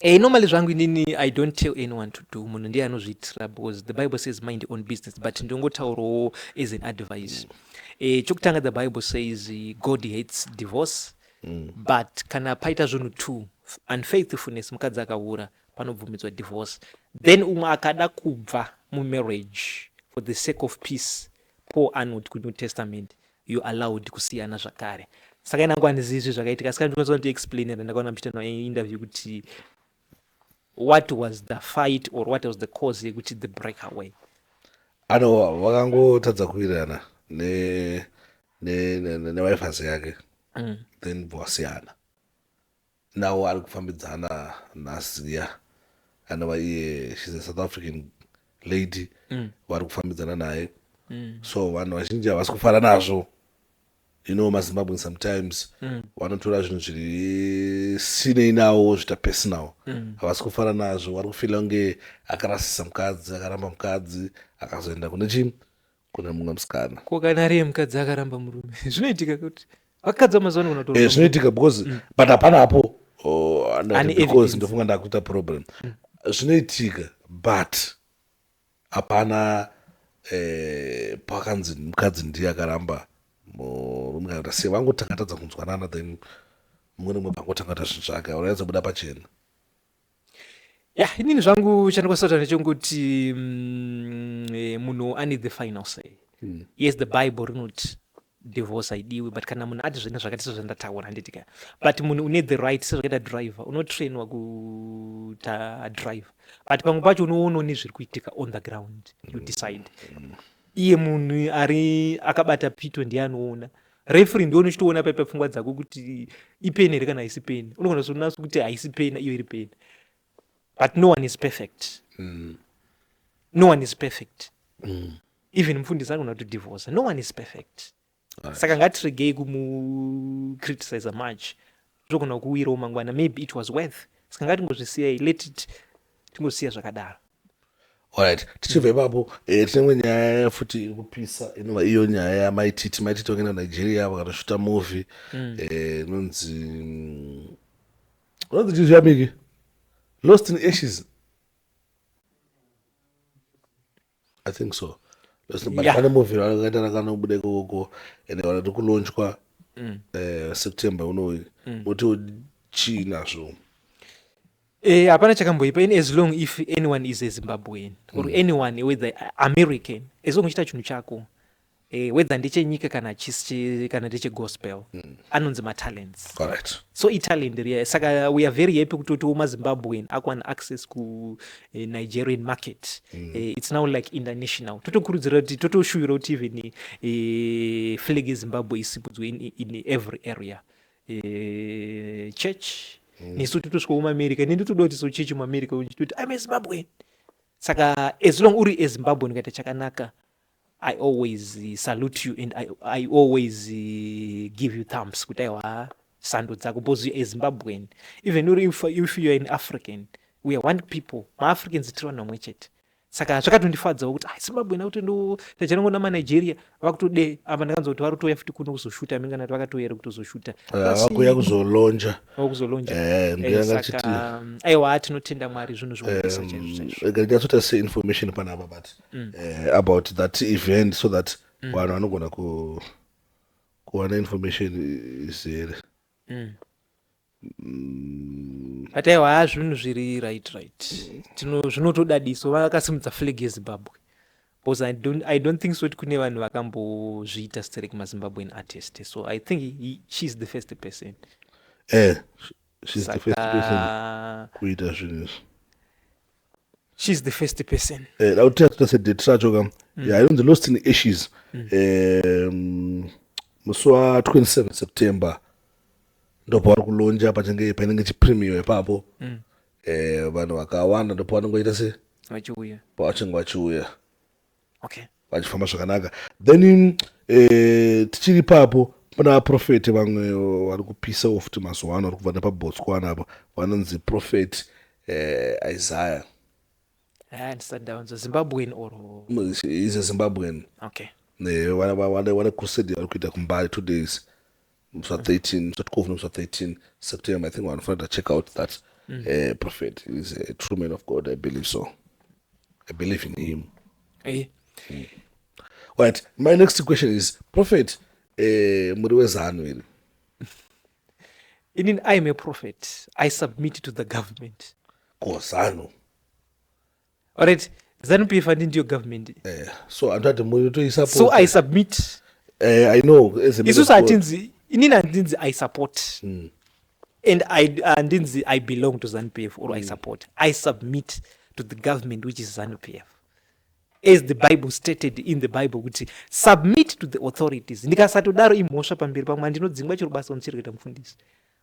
eh, normally zvangu inini i don't tell anyone to do munhu ndiye anozviitira because the bible says mind your own business but ndongotaurawo as an advice mm. eh, chokutanga the bible says god hates divorce mm. but kana paita zvinhu two unfaithfulness mukadzi akahura panobvumidzwa divorce then umwe akada kubva mumarriage for the sake of peace paul anoti kuti new testament you allowed kusiyana zvakare saka inangu handizizvi zvakaitika saka ndikwanisa kuti explain and ndakaona muchiita no interview kuti what was the fight or what was the cause yekuti the break away ano vakangotadza kuwirirana newifazi yake mm. then bvasiyana Nawo ari kufambidzana naZiya anova iye she's a South African lady mm. vari kufambidzana naye mm. so vanhu vazhinji havasi kufara nazvo you know mazimbabwen sometimes mm. vanotora mm. zvinhu zviri sinei nawo zvita personal mm. havasi mm. kufara nazvo wari kufila kunge akarasisa mukadzi akaramba mukadzi akazoenda kune chii kuna mumwe musikana ko kana ari yemukadzi akaramba murume zvinoitika kuti vakadzi vamazuva ano eh, zvinoitika because mm. but hapana apo oh, because ndofunga ndakuita problem mm. zvinoitika but hapana eh, pakanzi mukadzi ndiye akaramba murume kana sei vangoti akatadza kunzwanana then mumwe nemwe pangoti angata zvinhu zvake aurayadza buda pachena ya yeah, inini zvangu chandikosota ndechonguti mm, eh, munhu ane the final say mm. yes the bible rinoti divorce haidiwi but kana munhu ati zvine zvakati sezvandataura handitika but munhu une the right sezvakaita driver unotrainwa kuta driver but pamwe pacho unoonawo nezviri kuitika on the ground you decide iye munhu ari akabata pito ndiye anoona Referee ndiwe unochitoona paipa pfungwa dzako kuti ipeni here kana haisi peni. Unogona kuzonaso kuti haisi peni iyo iri peni. But no one is perfect. Mm. No one is perfect. Mm. Even mfundisi anogona to divorce. No one is perfect. Right. Saka ngatiregei kumu criticize much. zvogona kukuwirawo mangwana maybe it was worth ska ngatingozvisiyai let it tingozvisiya zvakadaro Alright, tichibva ipapo eh, tine imwe nyaya futi iri kupisa inova iyo nyaya yamaititi maititi vakaenda nigeria vakatoshuta movie eh, inonzi mm, inonzi chii zviyamiki lost in ashes i think so but yeah. pane movie rakaita rakanobuda ikoko and vanoti kulonchwa mm. uh, september unoyu mm. motiwo chii nazvo eh, hapana eh, chakamboipa in as long if anyone is a zimbabwean or mm. anyone whether american as long uchita chinhu chako eh, whether ndechenyika kana chisi kana ndechegospel mm. anonzi matalents Correct. so italent riya saka we are very happy kutotiwo mazimbabwean akuwana access kunigerian eh, market mm. eh, it's now like international totokurudzira kuti totoshuvira kuti even eh, flag yezimbabwe isipudzwe in, in every area eh, church mm. nesu totosvika muamerica neni totoda kuti so church muamerica toti i'm a zimbabwean saka as long uri ezimbabwean ukaita chakanaka I always salute you and I, I always give you thumbs kuti aiwa sando dzako because you're a Zimbabwean even uri if, if you're an African we are one people maAfricans tiri vanhu vamwe chete saka zvakatondifadzawo kuti ah, Zimbabwean akuti ndo tajanango namaNigeria vakutode apa ndakanzwa kuti vari kutouya futi kuno kuzoshuta amene kana kuti vakatouya here kutozoshuta vakuya kuzolonja vakuzolonja Eh, mbira Eh, ngachiti- saka um, aiwa tinotenda mwari zvinhu zvinonesa chaizvo chaizvo ega ndinyatsota seinformation panapa but mm. uh, about that event so that mm. vanhu vanogona ku kuwana information izere mm. mm. but aiwa haa zvinhu zviri right right tino zvinotodadiso vakasimudza flag yezimbabwe because I don't, i don't think so kuti kune vanhu vakambozviita sterek mazimbabwean artist so i think he, she is the first person eh, she's the first person saka kuita zvinhu izvi she's the first person Eh, da kuti tatita sedate racho ka ya inonzi lost in ashes Em, musi wa 27 september ndopavari kulonja pachinge painenge chipremio ipapo Eh, vanhu vakawanda ndopavanongoita se vachiuya pavachinge vachiuya okay vachifamba zvakanaka then eh, tichiri papo pana vaprofeti vamwe eh, vari kupisa ofuti mazuva ano vari kubva nepabotswana apo vanonzi profeti eh, isaya eh, zimbabwen or is a zimbabwen okay wane crusade yavari kuita kumbari two days musa 13 musa 12 nomusa 13 september i think vanhu fanira check out that mm. uh, prophet is a true man of god i believe so i believe in him hey. mm. right my next question is prophet eh, muri wezanu iri inin i am a prophet i submit to the government kozanu Alright, Zanu PF and ndiyo government. Eh, so andati muri to support. So I submit. Eh, I know. Isu satinzi inini andinzi I support. Mm. And I andinzi uh, I belong to Zanu PF or mm. I hmm. support. I submit to the government which is Zanu PF. As the Bible stated in the Bible kuti submit to the authorities. Ndikasatodaro imhosva pamberi pamwe ndinodzingwa chero basa ndichirikuita mufundisi.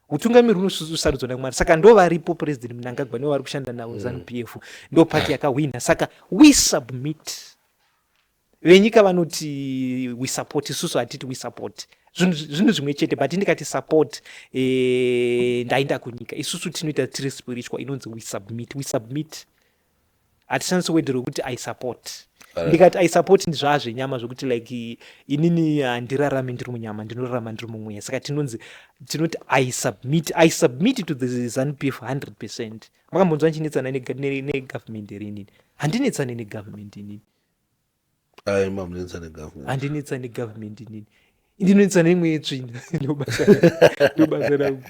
utungamiri unosarudzwa namwari saka ndo varipo president mnangagwa nevari kushanda navo mm. zanu p f ndo pati yakahwina saka we submit venyika vanoti we support isusu hatiti we support zvinhu zvimwe chete but ndikati support eh, ndainda kunyika isusu tinoita tiri spiritual inonzi we submit we submit hatishandise word rokuti i support ndikati i support ndizvaa zvenyama zvokuti like inini handirarami ndiri munyama ndinorarama ndiri mumweya saka tinonzi tinoti i submit i submit to the zanupf 100 percent makambonzwa ndichinetsana negovernment here inini handinetsane negovernment inini Ayi mamunetsa negovernment. Andinetsa negovernment inini. Ndinonetsa neimwe yetsvina ndobasa ndobasa rangu.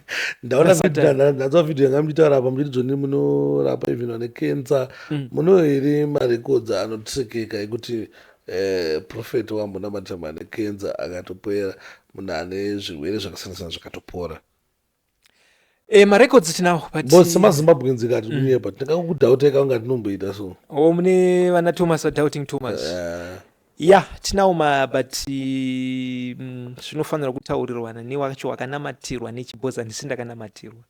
Ndaona Nasatan. video na- ndanzwa video yanga muchitaura apa muchiti dzoni munorapa even vane cancer. Muno here marecords anotsekeka ekuti eh, prophet wambonamatira mane cancer akatopera munhu ane zvirwere zvakasiyana siyana zvakatopora. Eh, marecords tinawo but but semazimbabweans ikati Mm. kunyepa tingakudauteka kunga tinomboita so oh, mune vana thomas vadoubting thomas Eh, ya tinawo ma but eh, mm, zvinofanira kutaurirwana newacho wakanamatirwa nechibhoza ndisi ndakanamatirwa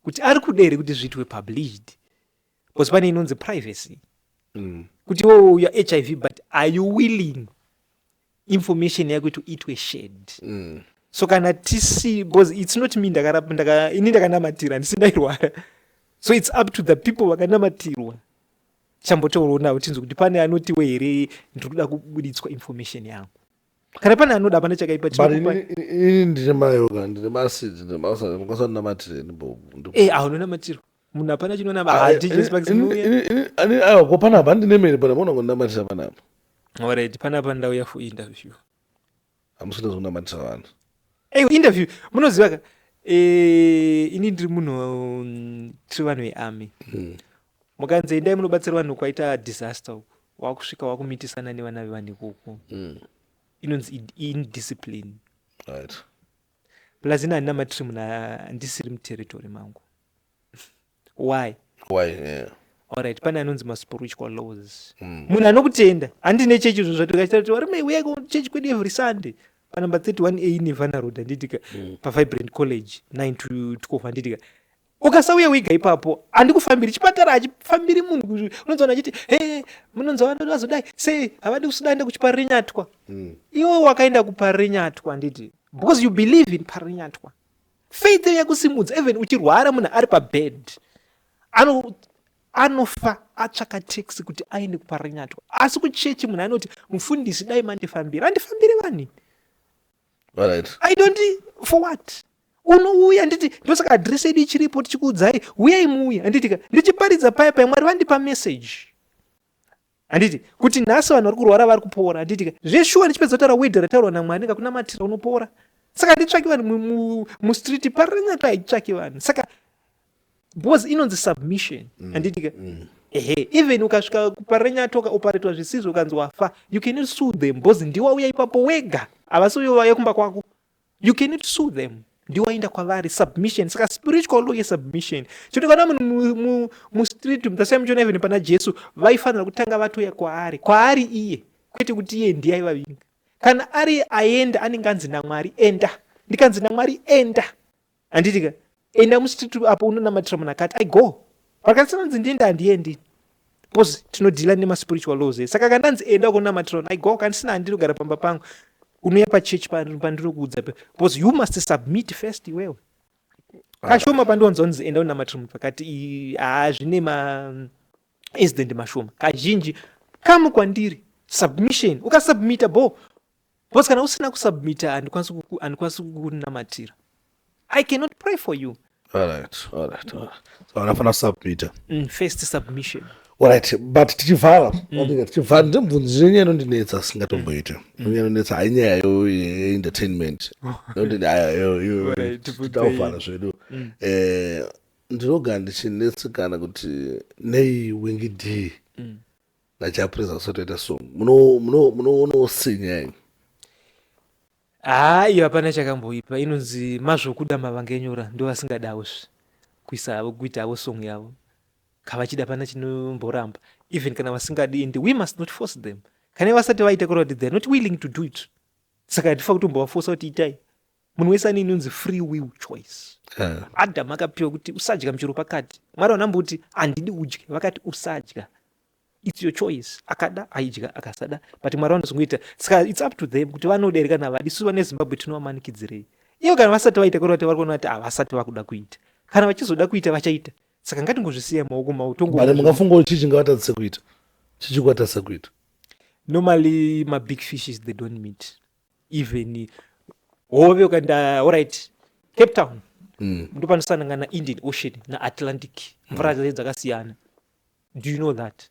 kuti ari kuda here kuti zviitwe published bcause pane inonzi privacy mm. kuti iwo uya hiv but are you willing information yako to itwe shared mm. so kana tisi because it's not me ndakarapa ndaka ini ndakanamatira handisi ndairwara so it's up to the people vakanamatirwa chambotaurawo navo tinzwe kuti pane anotiwo here ndiri kuda kubuditswa information yangu kana pane anoda hapana chakaipa ini ndine mayoga ndine masidi ndine mausadi mukasandinamatireni bobu e eh, ahunonamatirwa munhu hapana chinonama hatichesi pakisinouyaako panapa handine mene pana maona kunamatisa panapa orit panapa ndauya for interview hamusina zvekunamatisa vanhu ei interview munoziva ka eh, ini ndiri munhu mm, tiri vanhu vearmy hmm. mukanzi endai munobatsira vanhu kwaita disaster uku wakusvika wakumitisana nevana vevanhu ikoko hmm. inonzi indiscipline plus ini handina matiri munhu andisiri muterritory mangu why why yeah. Alright, pane anonzi maspiritual laws mm. munhu anokutenda handine chechi zvo zvatikachitati varume uyai kuchechi kwedu every sunday panumber 31 a nevana road handitika mm. pavibrant college 9 to 12 handitika ukasauya wega ipapo handikufambiri chipatara hachifambiri munhu unonzi vanhu achiti he munonzi vanhu vazodai sei havadi kusudaenda kuchipari renyatwa mm. iwe wakaenda kupari renyatwa handiti because you believe in pari renyatwa faith yakusimudza even uchirwara munhu ari pabed ano anofa atsvaka taxi kuti aende kuparanyatwa asi kuchechi munhu anoti mufundisi dai mandifambira andifambire vani right. i don't for what unouya nditi ndosaka adress yedu ichiripo tichikuudzai uyai muuya anditika ndichiparidza paya paya mwari vandipa message Handiti kuti nhasi vanhu vari kurwara vari kupora handiti ka zveshuwa ndichipedza kutaura wedha rataurwa namwari kakunamatira unopora saka handitsvaki vanhu mustreet parinaka haitsvaki vanhu saka because inonzi submission mm, handiti ka mm. ehe even ukasvika parenyatoka oparetwa zvisizvo ukanzi wafa you cannot sue them because ndiwa uya ipapo wega havasi uyo vauya kumba kwako you cannot sue them ndiwainda kwavari submission saka spiritual law yesubmission choti kana munhu mustreet mtasai muchiona even pana jesu vaifanira kutanga vatoya kwaari kwaari iye kwete kuti iye ndiye aivavinga kana ari aenda anenge anzi namwari enda ndikanzi namwari enda handitika enda mustreet apo unonamatira munhu akati i go vakatisananzi ndiende handiendi bcause tinodhila nemaspiritual laws e saka kandanzi enda ukonamatira i go kandisina handinogara pamba pangu unouya pachurch pandinokuudza pe bcause you must submit first iwewe kashoma pandiwanza unzi enda unamatira munhu pakati haa zvine ma incident mashoma kazhinji kamu kwandiri submission ukasubmita bo because kana usina kusubmita handikwanisi kuku- handikwanisi kukunamatira i cannot pray for you Alright, alright, alright. So anafana kusubmita mm, first submission Alright, but tichivhala Andika, tichivhala ndimubvunzi nyaya inondinetsa singatomboite nyaya inondinetsa hayi nyaya yo entertainment Inondine- aya, yo- yo- Alright, tibvunzei. titavhala zvedu Eh, ndinogara ndichinetsekana kuti nei wingi d nachapreza kusotoita song munoonawo sinya ini haa iyo hapana chakamboipa inonzi mazvokuda mavangenyora ndo vasingadawo zve kuisa havo kuita havo song yavo kavachida pana chinomboramba even kana vasingadi and we must not force them kana vasati vaita kureva kuti theyare not willing to do it saka hatifa kutombovafosa kuti itai munhu wese ane inonzi free will choice eh. adam akapiwa kuti usadya muchero pakati mwari vanambuti handidi udye vakati usadya its your choice akada aidya akasada but mwari vanozongoita saka its up to them kuti vanoda here kana havadi suva nezimbabwe tinovamanikidzirei ivo kana vasati vaita kuri vati vari kuona kuti havasati vakuda kuita kana vachizoda kuita vachaita saka ngatingozvisiya maoko mavo tongobut mungafunga kuti chii chingavatadzise kuita chichikwatadzisa kuita normally mabig fishes they don't meet even hove ukaenda orit cape town mm. ndopanosanangana indian ocean naatlantic mvura mm. dzakasiyana do you know that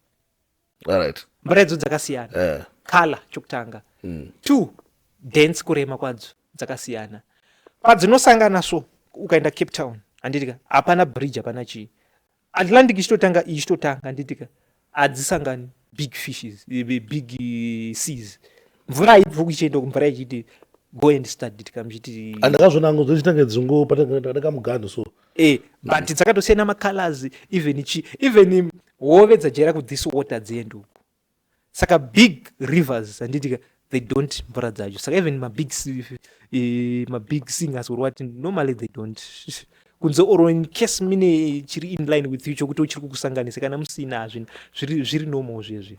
right. mvura idzo dzakasiyana uh. Eh. color chokutanga mm. two dance kurema kwadzo dzakasiyana padzinosangana so ukaenda cape town handitika hapana bridge hapana chii Atlantic ichitotanga iyi ichitotanga nditika hadzisangani big fishes eh, big eh, seas mvura haibvi kuchienda kumvura ichiti go and start nditika muchiti andakazvona angu dzochitanga dzungu patakamuganhu so e but dzakatosiyana macolors even chi even hove dzajaira kuthis water dzienduku saka big rivers handiti they don't mvura dzacho saka even mabig eh, mabig singers or what normally they don't kunze or in case mine chiri inline with you chokuti uchiri kukusanganisa kana musina hazvina zviri normal zvezvi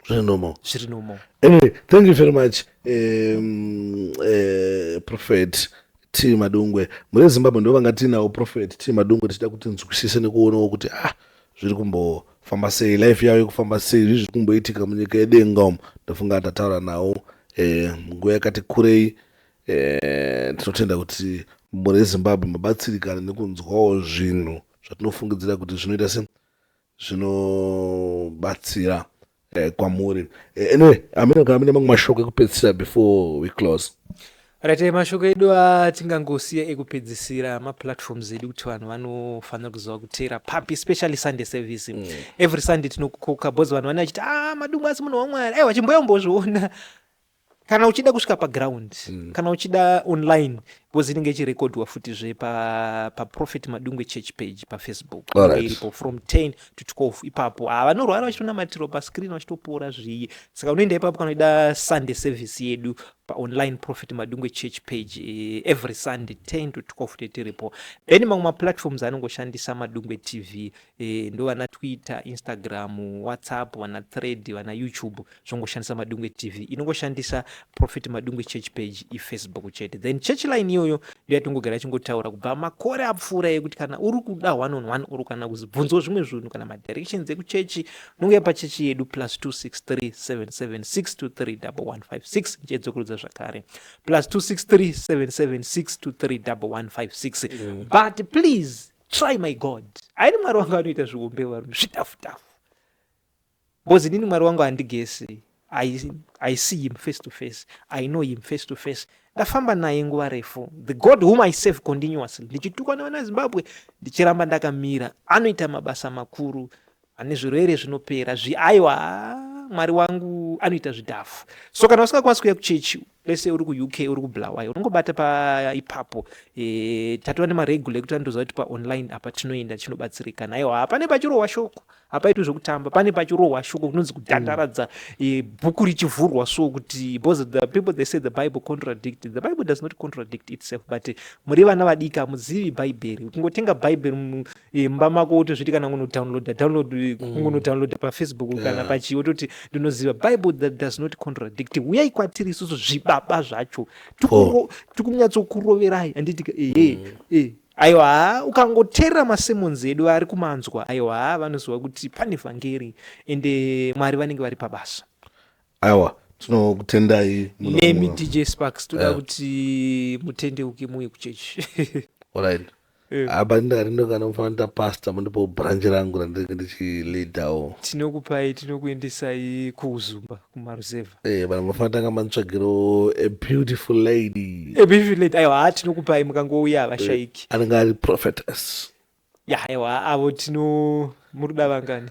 zviri normal zviri normal anyway thank you very much um, uh, prophet t madungwe mune zimbabwe ndo vanga tiinawo prophet t madungwe tichida kuti nzwisise nekuonawo kuti ah zviri kumbofamba sei life yavo ikufamba sei zvii zviri kumboitika munyika yedenga umu ndofunga ndataura nawo eh, nguva yakati kurei eh, tinotenda kuti mhuri yezimbabwe mabatsirikana nekunzwawo zvinhu zvatinofungidzira kuti zvinoita se zvinobatsira eh, kwamuri eh, anyway amina kana mine mamwe mashoko ekupedzisira before we close right eh, mashoko edu atingangosiya ekupedzisira maplatforms edu kuti vanhu vanofanira kuziva kuteera papi especially sunday service mm. every sunday tinokukoka bcause vanhu vanenge vachiti a ah, madungu asi munhu wamwari aiwa chimboyombozviona kana uchida kusvika paground mm. kana uchida online because inenge ichirekodhwa futizve paprophet pa madungwe church page pafacebook right. iripo from 10 to 12 ipapo ha ah, vanorwara vachitonamatiro pascreen vachitopora zviye saka unoenda ipapo kana uchida sunday service yedu paonline prophet madungwe church page eh, every sunday 10 to 12 tetiripo then mamwe maplatforms anongoshandisa madungwe tv Eh, ndovana twitter instagram whatsapp vana thread vana youtube zvongoshandisa madungwe tv inongoshandisa prophet madungwe church page ifacebook chete then church line iyoyo ndoyatongogara achingotaura kubva makore apfuura yekuti kana uri kuda one on one or kana kuzibvunzwa zvimwe zvinhu kana madirections ekuchechi unongouya pachechi yedu plus 263776231156 ndichedzokurudza zvakare plus 263776231156 mm. but please try my god aini mwari wangu anoita zviumbe varume zvitafutafu bcause inini mwari wangu handigesi I, i see him face to face i know him face to face ndafamba naye nguva refu the god whom i save continuously ndichitukwa nevana zimbabwe ndichiramba ndakamira anoita mabasa makuru Ane zvirwere zvinopera zvi aiwa mwari wangu anoita zvidhafu so kana usingakwanisi kuuya kuchechi lese uri kuuk uri kubulawayo unongobata paipapo e, eh, tatova nemaregular ekuti anotoziva kuti paonline apa tinoenda tinobatsirika naiwa hapane pachirohwa shoko hapaitwi zvekutamba pane pachirohwa shoko kunonzi kudandaradza e, bhuku richivhurwa so kuti because the people they say the bible contradict the bible does not contradict itself but muri vana vadiki hamuzivi bhaibheri kungotenga bhaibheri imba mako wotozviti kana kunodownloada download kungonodownloada pafacebook kana Yeah. pachii wototi ndinoziva bible that does not contradict huyai kwatiri isusu zvibaba zvacho Tikungo- tikunyatsokuroverai handiti ehe eh. aiwa haa, ukangoteerera masemons edu ari kumanzwa aiwa haa, vanoziva kuti pane vhangeri ende mwari vanenge vari pabasa awa tinokutendai muno- nemi muno. dj sparks toda Yeah. kuti mutendeuke muuye kuchechi Alright. Eh. apa ndari ndokana kufanira pasta mundipo branch rangu randinenge ndichileadawo tinokupai tinokuendesai kuuzumba kumaruzevha Eh, vanhu mafana tanga manitsvagiro a beautiful lady ebivilate aiwa haa tinokupai mukangouya havashaiki anenge ari prophetess ya aiwa avo tino muri kuda vangani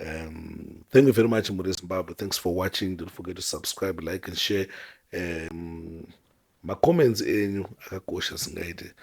Um, thank you very much, Muri Zimbabwe. Thanks for watching. Don't forget to subscribe, like, and share. Um, macomments enyu akakosha zvingaite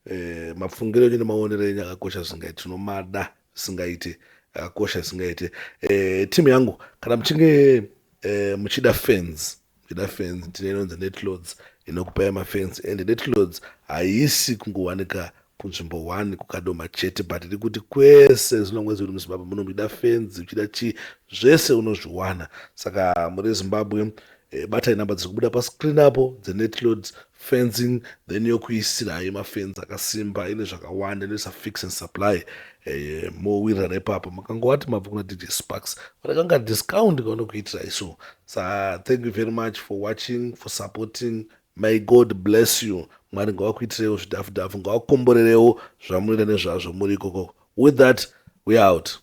eh, mapfungiro enyu nemaonero enyu akakosha zvingaite tinomada zvingaite akakosha zvingaite eh, timu yangu kana muchinge eh, muchida fans Ndida fence ndine inonzi netloads inokupai mafence and netloads haisi kungowanika kunzvimbo one kukadoma chete but iri kuti kwese zvino mwezi uri muzimbabwe muno muchida fenzi uchida chii zvese unozviwana saka muri zimbabwe eh, batai namba dziri kubuda pascreen apo dzenetloads fencing then yokuisira hayo mafenzi akasimba ine zvakawanda inoisa fix and supply eh, mowirira nepapa makangowati mabva kuna dj sparks vatakanga discount kaona kuitirai so sa thank you very much for watching for supporting may god bless you mwari ngawakuitirewo zvidhafu dhafu ngawakomborerewo zvamunoita nezvazvo muri ikoko with that we out